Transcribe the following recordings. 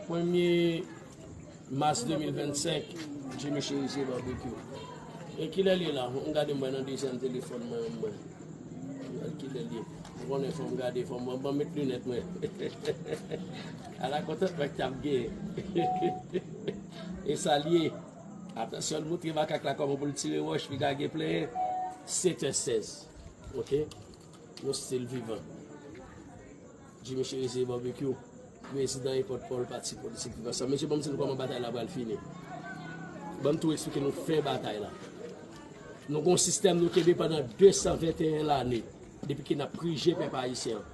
Premye Mas 2025 Jimmy Cherizier Barbecue E kilè l ye la? Fò m gade m wè nan dezyèm telefòn mwen an mwen wèl kilè l ye Ou konnen fò m gade fò m wè Banm met linèt mwen Ala kontantman k t ap gen E sa l ye Atansyon l moutre makak la kòman pou l tire wòch Piga gen plenyen 7 è 16 Ok. Nou stil vivan. Jimmy Cherizier Barbecue, prezidan e pòtpawòl pati politik Viv Ansanm. Mesye banm di nou kòman batay la pral fini. Banm tou esplike nou fen batay la. Nou gon sistèm nou kenbe pandan 221 lane depi ki nap prije pèp ayisyen an.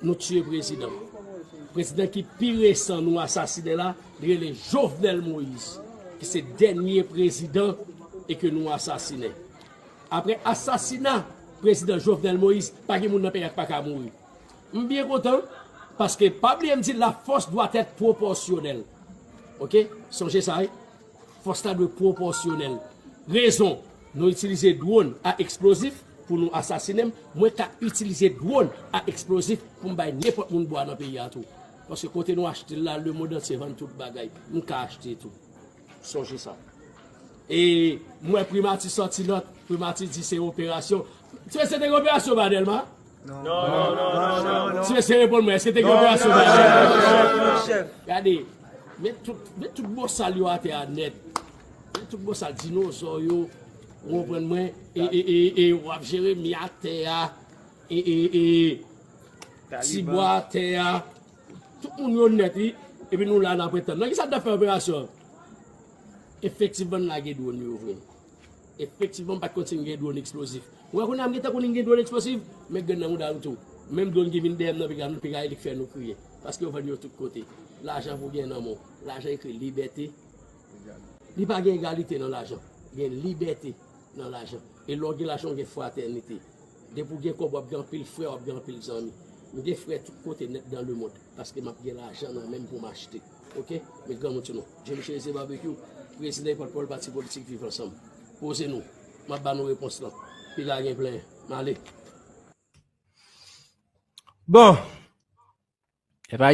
Nou tiye prezidan. Prezidan ki pi resan nou asasine la, li rele Jovenel Moïse ki se dènye prezidan e ke nou asasine. Aprè asasina prezidan Jovenel Moïse pa gen moun nan peyi a ki pa ka mouri. M byen kontan paske pa bliye m di la fòs dwa tèt pwopòsyonèl. Ok sonje sa wi. Fòs la dwe pwopòsyonèl. Rezon nou itilize dwòn a eksplozif pou nou asasine m, mwen ka itilize dwòn a eksplozif pou m bay nenpòt moun bwa nan peyi a tou. Paske kote nou achte l la lemond antye vann tout bagay. M ka achte tou. Sonje sa. E m wè primati sòti nòt, primati di se operasyon. Ti mesye te gen operasyon ba Dèlma? Non, non, non. Ti mesye reponn mwen, eske te gen operasyon ba Dèlma? Non, non, non, chèf. Gade, met tout bosal yo atè a nèt. Met tout bosal, dinozò yo, ou konprann mwen, e w ap jere mi atè a, e ti bwa atè a. Tout moun yo nèt wi epi nou la nap ret tann. Nan kisa nou tap fè operasyon an? Efektivman nou lage dwon yo vre. Efektivman m pat konn si nou gen dwon eksplozif. Mwen wè kounya m gentan konnin gen dwon eksplosif men gen nan mouda nou tou. Menm dwon ki vin dèyè m nan piga m piga elik fè nou kriye. Paske yo vann yo tout kote. Lajan pou gen nan men w. Lajan ekri libète. Li pa gen egalite nan lajan. Gen libète. nan lajan e lè w gen lajan w gen fratènite depi w gen kòb wap gen anpil frè wap gen anpil zanmi m gen frè tout kote nèt dan lemond paske map gen lajan nan menm pou m achte ok men granmoun sou nou John Cherizier Barbecue prezidan e pòtpawòl pati politik viv ansanm poze nou map ba nou repons lan piga gen plen m ale. Bon!